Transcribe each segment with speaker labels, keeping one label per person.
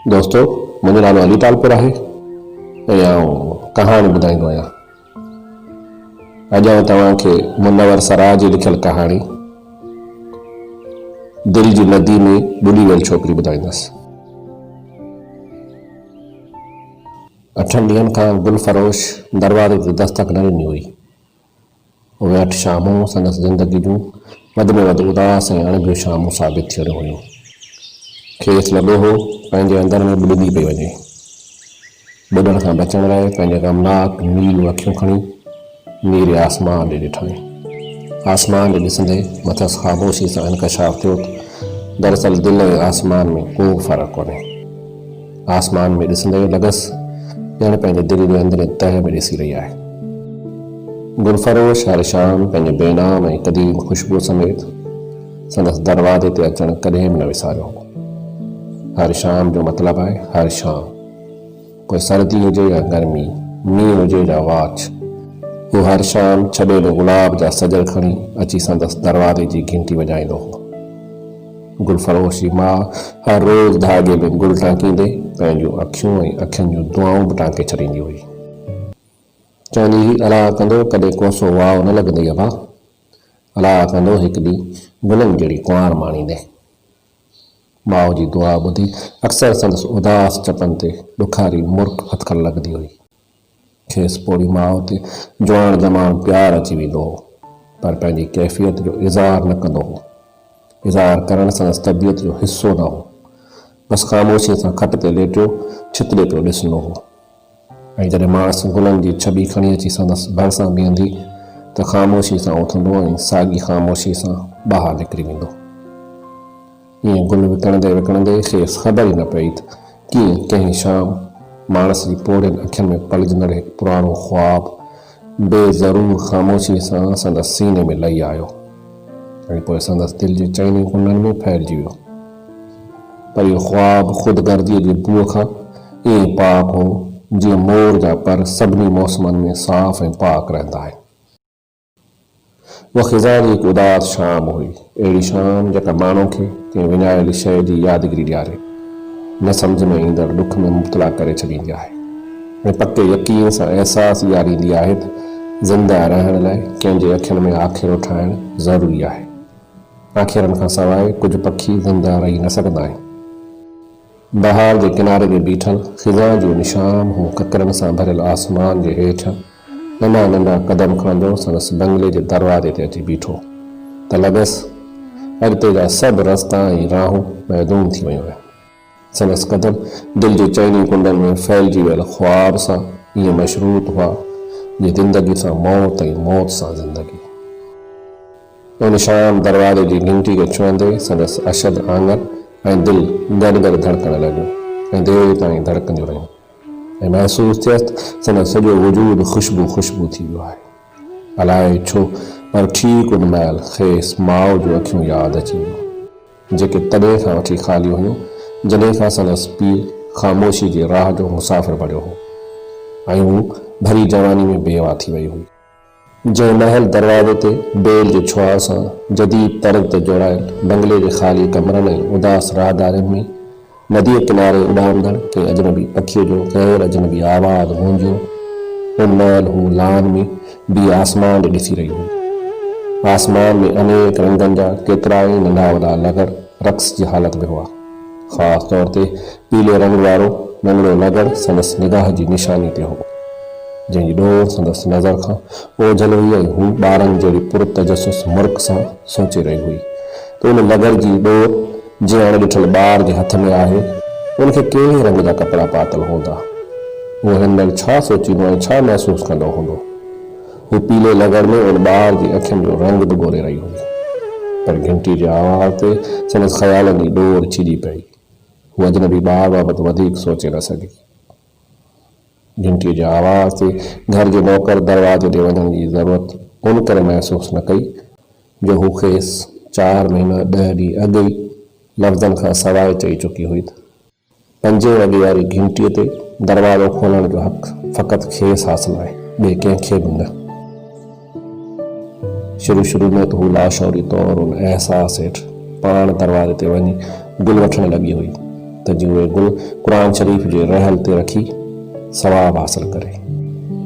Speaker 1: دوستو منهنجو نالو علي ٽالپر آهي ۽ آئون ڪهاڻي ٻڌائيندو آهيان. اڄ آئون توهان کي منور سراء جي لکيل ڪهاڻي دل جي ندي ۾ ٻڏي ويل ڇوڪري ٻڌائيندس. اٺن ڏينهن کان گل فروش دروازي تي دستڪ نه ڏني هئي. اهي اٺ شامون سندس زندگي جون وڌ ۾ وڌ اداس ۽ اڻڀيون شامون ثابت ٿيڻيون هيون. کيس لڳو هو پنهنجي اندر ۾ ٻڏندي پئي وڃي. ٻڏڻ کان بچڻ لاء پنهنجي غمناڪ نيلون اکيون کڻي نيري آسمان ڏي ڏٺائين. آسمان ڏي ڏسندي مٿس خاموشي سان انڪشاف ٿيو ته دراصل دل ۽ آسمان ۾ ڪو به فرق ڪونهي. آسمان ۾ ڏسندي لڳس ڄڻ پنهنجي دل جي اندرين تهه ۾ ڏسي رهي آهي. گل فروش شهر شام پنهنجي بي نام ۽ قديم خوشبوء سميت سندس دروازي تي اچڻ ڪڏهن به نه وساريو هو. هر شام جو مطلب آهي هر شام. پوء سردي هجي يا گرمي، مينهن هجي يا واڇ. هو هر شام ڇٻيل گلاب جا سڄر کڻي اچي سندس دروازي جي گهنٽي وڄائيندو هو. گل فروش جي ماء هر روز ڌاڳي ۾ گل ٽانڪيندي پنهنجون اکيون ۽ اکين جون دعائون به ٽانڪي ڇڏيندي هئي. چوندي هئي، الاء ڪندو ڪڏهن ڪوسو واء نه لڳندئي ابا! الاء ڪندو هڪ ڏينهن گلن جهڙي ڪنوار ماڻيندين. ماء جي دعا ٻڌي اڪثر سندس اداس چپن تي ڏکاري مرڪ ڦٿڪڻ لڳندي هئي. کيس پوڙهي ماء تي جوان جماڻ پيار اچي ويندو هو، پر پنهنجي ڪيفيت جو اظهار نه ڪندو هو. اظهار ڪرڻ سندس طبيعت جو حصو نه هو. بس خاموشيء سان کٽ تي ليٽيو ڇتڙي پيو ڏسندو هو ۽ جڏهن ماس گلن جي ڇٻي کڻي اچي سندس ڀرسان بيهندي ته خاموشيء سان اٿندو ۽ ساڳي خاموشيء سان ٻاهر نڪري ويندو. ائين گل وڪڻندي وڪڻندي کيس خبر ئي نه پئي ته ڪيئن ڪنهن شام ماڻس جي پوڙهين اکين ۾ پلجندڙ هڪ پراڻو خواب بي ضرور خاموشيء سان سندس سيني ۾ لهي آيو ۽ پوء سندس دل جي چئن ئي ڪنڊن ۾ ڦهلجي ويو. پر اهو خواب خود غرضيء جي بوء کان ائين پاڪ هو، جيئن مور جا پر سڀني موسمن ۾ صاف ۽ پاڪ رهندا آهن. اها خزان جي هڪ اداس شام هئي. اهڙي شام جيڪا ماڻهو کي ڪنهن وڃايل شيء جي يادگيري ڏياري، نه سمجهه ۾ ايندڙ ڏک ۾ مبتلا ڪري ڇڏيندي آهي ۽ پڪي يقين سان احساس ڏياريندي آهي ته زنده رهڻ لاء ڪنهن جي اکين ۾ آکيرو ٺاهڻ ضروري آهي. آکيرن کان سواء ڪجهه پکي زنده رهي نه سگهندا آهن. بهار جي ڪناري تي بيٺل خزان جو نشان هو ڪڪرن سان ڀريل آسمان جي هيٺ ننڍا ننڍا قدم کڻندو سندس بنگلي جي دروازي تي اچي بيٺو ته لڳس اڳتي جا سڀ رستا ۽ راهون معدوم ٿي ويون آهن سندس قدم دل جي چئني ڪنڊن ۾ ڦهلجي ويل خواب سان ائين مشروط هئا جيئن زندگي سان موت ۽ موت سان زندگي. ان شام دروازي جي گهنٽي کي ڇهندي سندس اشد آڱر ۽ دل گڏ گڏ ڌڙڪڻ لڳيون ۽ دير تائين ڌڙڪنديون رهيون ۽ محسوس ٿيس ته سندس سڄو وجود خوشبو خوشبو ٿي ويو آهي. الائي ڇو پر ٺيڪ ان مهل کيس ماء جون اکيون ياد اچي ويون جيڪي تڏهن کان وٺي خالي هيون جڏهن کان سندس پيء خاموشي جي راهه جو مسافر بڻيو هو ۽ هو ڀري جواني ۾ بيواه ٿي وئي هئي. جنهن مهل دروازي تي بيل جي ڇهاء سان جديد طرز تي جوڙايل بنگلي جي خالي ڪمرن ۽ اداس راهدارين ۾ نديء ڪناري اڏامندڙ ڪنهن اجنبي پکيء جو غير اجنبي آواز گونجيو، ان مهل هوء لان ۾ بيهي آسمان ڏي ڏسي رهي هئي. آسمان ۾ انيڪ رنگن جا ڪيترائي ننڍا وڏا لغر رقص جي حالت ۾ هئا. خاص طور تي پيلي رنگ وارو ننڍڙو نگر سندس نگاهه جي نشاني تي هو، جنهن جي ڏور سندس نظر کان اوجهل هئي ۽ هوء ٻارن جهڙي پر تجسس مرڪ سان سوچي رهي هئي ته ان نگر جي ڏور جيئن اڻ ڏٺل ٻار جي هٿ ۾ آهي، ان کي ڪهڙي رنگ جا ڪپڙا پاتل هوندا، هو هن مهل ڇا سوچيندو ۽ ڇا محسوس ڪندو هوندو؟ هوء پيلي نگر ۾ ان ٻار جي اکين جو رنگ به ڳوري رهي هئي، پر گهنٽي جي آواز تي سندس خيالن جي ڏور ڇڄي پئي. هو اجنبي ٻار بابت وڌيڪ سوچي نه سگهي. گهنٽيء جي آواز تي گهر جي نوڪر دروازي ڏي وڃڻ جي ضرورت ان ڪري محسوس نه ڪئي جو هو کيس چار مهينا ڏهه ڏينهن اڳ ئي لفظن کان سواء چئي چڪي هئي ته پنجين وڳي واري گهنٽيء تي دروازو کولڻ جو حق فقط کيس حاصل آهي، ٻئي ڪنهن کي به نه. شروع شروع ۾ ته هوء لاشعوري طور ان احساس هيٺ پاڻ دروازي تي وڃي گل وٺڻ لڳي هئي ته جيئن اهي گل قرآن شريف جي رحل تي رکي ثواب حاصل ڪري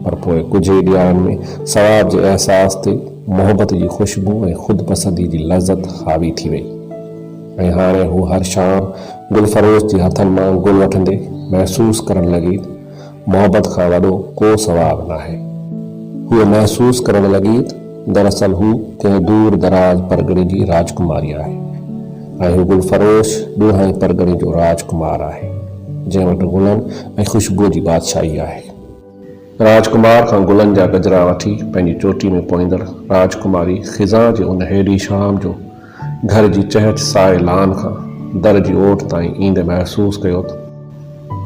Speaker 1: پر پوء ڪجهه ئي ڏياهن ۾ ثواب جي احساس تي محبت جي خوشبو ۽ خودپسندي جي لذت حاوي ٿي وئي ۽ هاڻي هوء هر شام گل فروش جي هٿن مان گل وٺندي محسوس ڪرڻ لڳي محبت کان وڏو ڪو ثواب ناهي. هوء محسوس ڪرڻ لڳي ته دراصل هو ڪنهن دور دراز پرڳڻي جي راجڪماري آهي ۽ هو گل فروش ڏوهائين پرڳڻي جو راجڪمار آهي، جنهن وٽ گلن ۽ خوشبوء جي بادشاهي آهي. راجڪمار کان گلن جا گجرا وٺي پنهنجي چوٽي ۾ پوئيندڙ راجڪماري خزان جي ان هيڊي شام جو گهر جي چهٽ سائي لان کان در جي اوٽ تائين ايندي محسوس ڪيو ته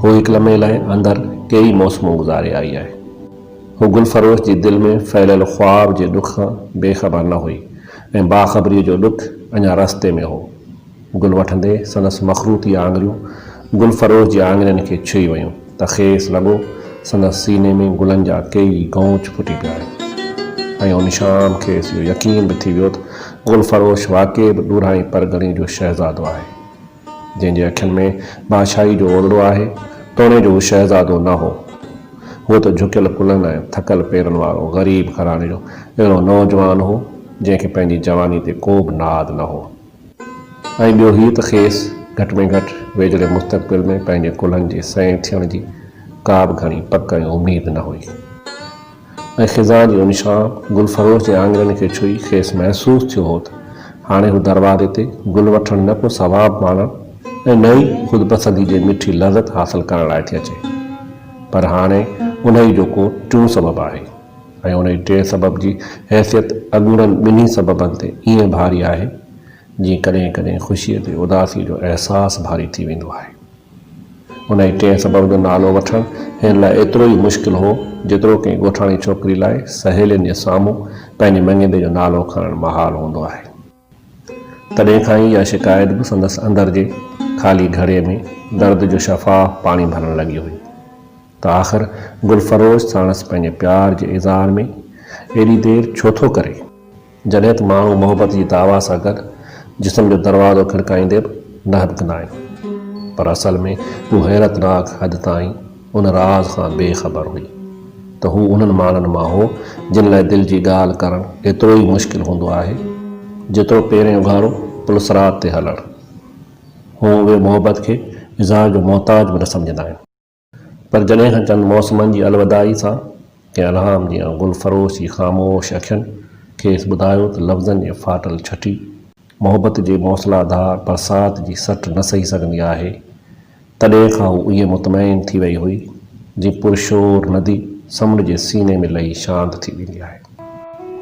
Speaker 1: هوء هڪ لمحي لاء اندر ڪيئي موسمون گذاري آئي آهي. هوء گل فروش جي دل ۾ ڦهليل خواب جي ڏک کان بي خبر نه هئي ۽ باخبريء جو ڏک اڃا رستي ۾ هو. گل وٺندي سندس مخروطي آڱريون گل فروش جي آڱرين کي ڇهي ويون. ته کيس لڳو سندس سيني ۾ گلن جا ڪيئي گونچ ڦٽي پيا آهن ۽ ان شام کيس اهو يقين به ٿي ويو ته گل فروش واقعي به ڏورانهين پرڳڻي جو شهزادو آهي، جنهن جي اکين ۾ بادشاهي جو اولڙو آهي، توڻي جو هو شهزادو نه هو، هو ته جهڪيل ڪلهن ۽ ٿڪل پيرن وارو غريب گهراڻي جو اهڙو نوجوان هو، جنهن کي پنهنجي جواني تي ڪو به ناز نه هو. ۽ ٻيو هي ته کيس گهٽ ۾ گهٽ ويجهڙي مستقبل ۾ پنهنجي ڪلهن جي سئين ٿيڻ جي ڪا به گهڻي پڪ ۽ اميد نه هئي ۽ خزان جي ان شام گل فروش جي آڱرين کي ڇهي کيس محسوس ٿيو هو ته هاڻي هو دروازي تي گل وٺڻ نه ڪو ثواب ماڻڻ ۽ نه ئي خودپسندي جي مٺي لذت حاصل ڪرڻ لاء ٿي اچي پر هاڻي انهيء جو ڪو ٽيون سبب آهي. ۽ ان جي ٽئين سبب جي حيثيت اڳوڻن ٻنهي سببن تي ائين ڀاري آهي، جيئن ڪڏهن ڪڏهن خوشيء تي اداسيء جو احساس ڀاري ٿي ويندو آهي. ان جي ٽئين سبب جو نالو وٺڻ هن لاء ايترو ئي مشڪل هو، جيترو ڪنهن ڳوٺاڻي ڇوڪري لاء سهيلين جي سامهون پنهنجي مڱيندي جو نالو کڻڻ محال هوندو آهي. تڏهن کان ئي اها شڪايت به سندس اندر جي خالي گهڙي ۾ درد جو شفاف پاڻي ڀرڻ لڳي هئي ته آخر گل فروش ساڻس پنهنجي پيار جي اظهار ۾ ايڏي دير ڇو ٿو ڪري؟ جڏهن ته ماڻهو محبت جي دعويٰ سان گڏ جسم جو دروازو کڙڪائيندي به نه هٻڪندا آهن پر اصل ۾ هو حيرتناڪ حد تائين ان راز کان بي خبر هئي ته هو انهن ماڻهن مان هو جن لاء دل جي ڳالهه ڪرڻ ايترو ئي مشڪل هوندو آهي جيترو پيرين اگهاڙو پلصراط تي هلڻ. هو اهي محبت کي اظهار جو محتاج به نه سمجهندا آهن. پر جڏهن کان چند موسمن جي الوداعي سان ڪنهن الهام جيان گل فروش جي خاموش اکين کيس ٻڌايو ته لفظن جي ڦاٽل ڇٽي محبت جي موسلا ڌار برسات جي سٽ نه سهي سگهندي آهي تڏهن کان هوء ائين مطمئن ٿي ويئي هئي، جيئن پرشور ندي سمنڊ جي سيني ۾ لهي شانت ٿي ويندي آهي.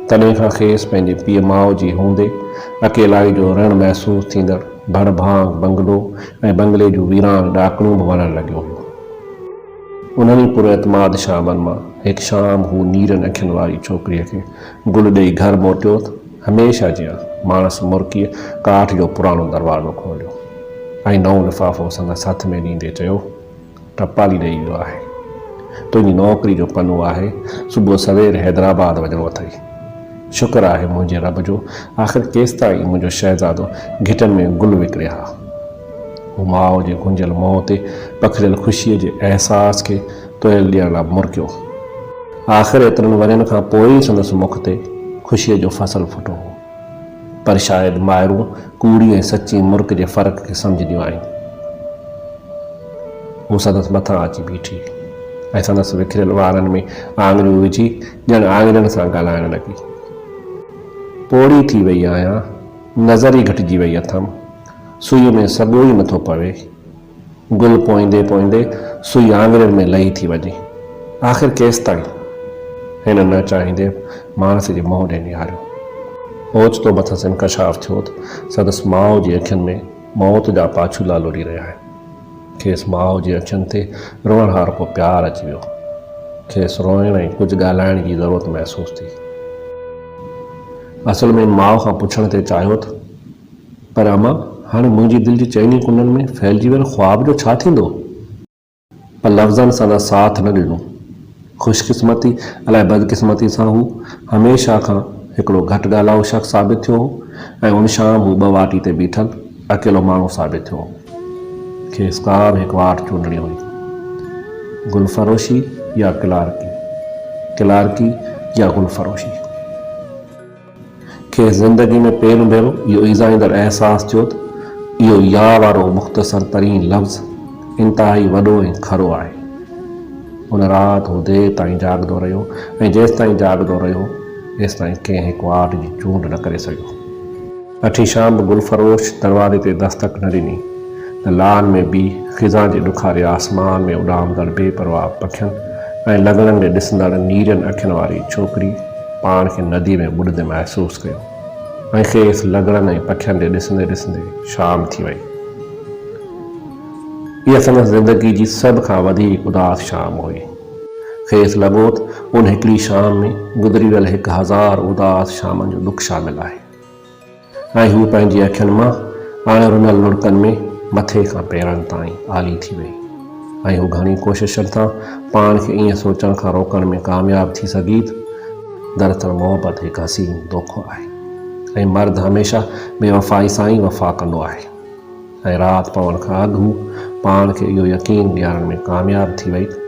Speaker 1: تڏهن کان کيس پنهنجي پيء ماء جي هوندي اڪيلائي جو رڻ محسوس ٿيندڙ ڀڙ ڀانگ بنگلو ۽ بنگلي جون ويران ڏاڪڻون به وڻڻ لڳيون هيون. انهن ئي پر اعتماد شامن مان هڪ شام هو نيرن اکين واري ڇوڪريء کي گل ڏيئي گهر موٽيوت هميشه جيان، ماڻس مرڪيء ڪاٺ جو پراڻو دروازو کوليو ۽ نئون لفافو سندس هٿ ۾ ڏيندي چيو، ٽپالي ڏئي ويو آهي. تنهنجي نوڪري جو پنو آهي، صبح سوير حيدرآباد وڃڻو اٿئي. شڪر آهي منهنجي رب جو، آخر ڪيستائين منهنجو شهزادو گهٽين ۾ گل وڪڻي ها. هو ماء جي گهنجيل منهن تي پکڙيل خوشيء جي احساس کي تويل ڏيڻ لاء مرڪيو هو. آخر ايترن ورهين کان پوء ئي سندس مک تي خوشيء جو فصل ڦٽو هو. پر شايد مائرون ڪوڙي ۽ سچي مرڪ جي فرق کي سمجهنديون آهن. هوء سندس مٿان اچي بيٺي ۽ سندس وکريل وارن ۾ آڱريون وجهي ڄڻ آڱرين سان ڳالهائڻ لڳي. پوڙهي ٿي ويئي آهيان، نظر ئي گهٽجي ويئي اٿم، سوئيء ۾ سڳو ئي نٿو پوي. گل پوئيندي پوئيندي سوئي آڱرين ۾ لهي ٿي وڃي. آخر ڪيستائين؟ هن نه چاهيندي ماڻس جي منهن ڏي نهاريو. اوچتو مٿس انڪشاف ٿيو ته سندس ماء جي اکين ۾ موت جا پاڇولا لڙي رهيا آهن. کيس ماء جي اکين تي روئڻ هارو ڪو پيار اچي ويو. کيس روئڻ ۽ ڪجهه ڳالهائڻ جي ضرورت محسوس ٿي. اصل ۾ ماء کان پڇڻ تي چاهيو ته. پر امان، هاڻي منهنجي دل جي چئني ڪنڊن ۾ ڦهلجي ويل خواب جو ڇا ٿيندو؟ پر لفظن سان نه ساٿ نه ڏنو. خوش قسمتي الائي بد قسمتي سان هو هميشه کان هڪڙو گهٽ ڳالهائو شخص ثابت ٿيو هو ۽ ان شام هو ٻه واٽي تي بيٺل اڪيلو ماڻهو ثابت ٿيو هو. کيس ڪا به هڪ واٽ چونڊڻي هئي. گل فروشي يا ڪلارڪي. ڪلارڪي يا گل فروشي. کيس زندگي ۾ پهريون ڀيرو اهو ايذائيندڙ احساس ٿيو ته اهو يا وارو مختصر ترين لفظ انتهائي وڏو ۽ کرو آهي. ان رات هو دير تائين جاڳندو رهيو ۽ جيستائين جاڳندو رهيو، تيستائين ڪنهن هڪ واٽ جي چونڊ نه ڪري سگهيو. اٺين شام به گل فروش دروازي تي دستڪ نه ڏني ته لان ۾ بيهي خزان جي ڏکاري آسمان ۾ اڏامندڙ بي پرواهه پکين ۽ لنگڙن ڏي ڏسندڙ نيرين اکين واري ڇوڪري پاڻ کي ندي ۾ ٻڏندي محسوس ڪيو ۽ کيس لنگڙن ۽ پکين ڏي ڏسندي ڏسندي شام ٿي وئي. اها سندس زندگي جي سڀ کان وڌيڪ اداس شام هئي. کيس لڳو ته ان هڪڙي شام ۾ گذري ويل هڪ هزار اداس شامن جو ڏک شامل آهي. ۽ هوء پنهنجي اکين مان اڻ رنل لڙڪن ۾ مٿي کان پيرن تائين آلي ٿي ويئي ۽ هو گهڻين ڪوششن سان پاڻ کي ائين سوچڻ کان روڪڻ ۾ ڪامياب ٿي سگهي ته دراصل محبت هڪ حسين دوکو آهي ۽ مرد هميشه بي وفائي سان ئي وفا ڪندو آهي. ۽ رات پوڻ کان اڳ هو پاڻ کي اهو يقين ڏيارڻ ۾ ڪامياب ٿي وئي ته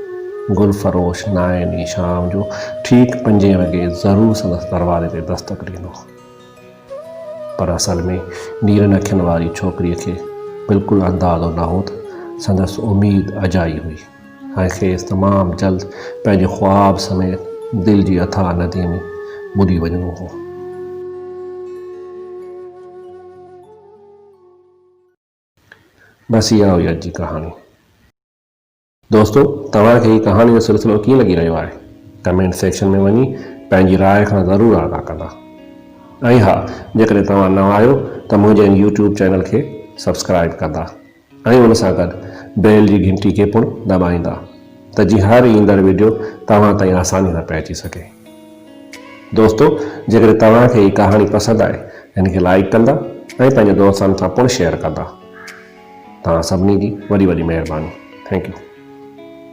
Speaker 1: گل فروش نائين ڏينهن شام جو ٺيڪ پنجين وڳي ضرور سندس دروازي تي دستڪ ڏيندو. پر اصل ۾ نيرن اکين واري ڇوڪريء کي بلڪل اندازو نه هو ته سندس اميد اجائي هئي ۽ کيس تمام جلد پنهنجي خواب سميت دل جي اٿاهه نديء ۾ ٻڏي وڃڻو هو. بس اها هئي اڄ جي ڪهاڻي. دوستو توهان کي هي ڪهاڻي جو سلسلو ڪيئن لڳي رهيو آهي ڪمينٽ سيڪشن ۾ وڃي پنهنجي راء کان ضرور آگاهه ڪندا ۽ ها جيڪڏهن توهان نوان آهيو ته منهنجي هن يوٽيوب چينل کي سبسڪرائب ڪندا ۽ ان سان گڏ بيل جي گهنٽي کي پڻ دٻائيندا ته جيئن هر ايندڙ وڊيو توهان تائين آساني سان پهچي سگهي. دوستو جيڪڏهن توهان کي هي ڪهاڻي پسند آئي ته هن کي لائيڪ ڪندا ۽ پنهنجي دوستن سان پڻ شيئر ڪندا توهان سڀني جي وڏي وڏي مهرباني ٿينڪ يو.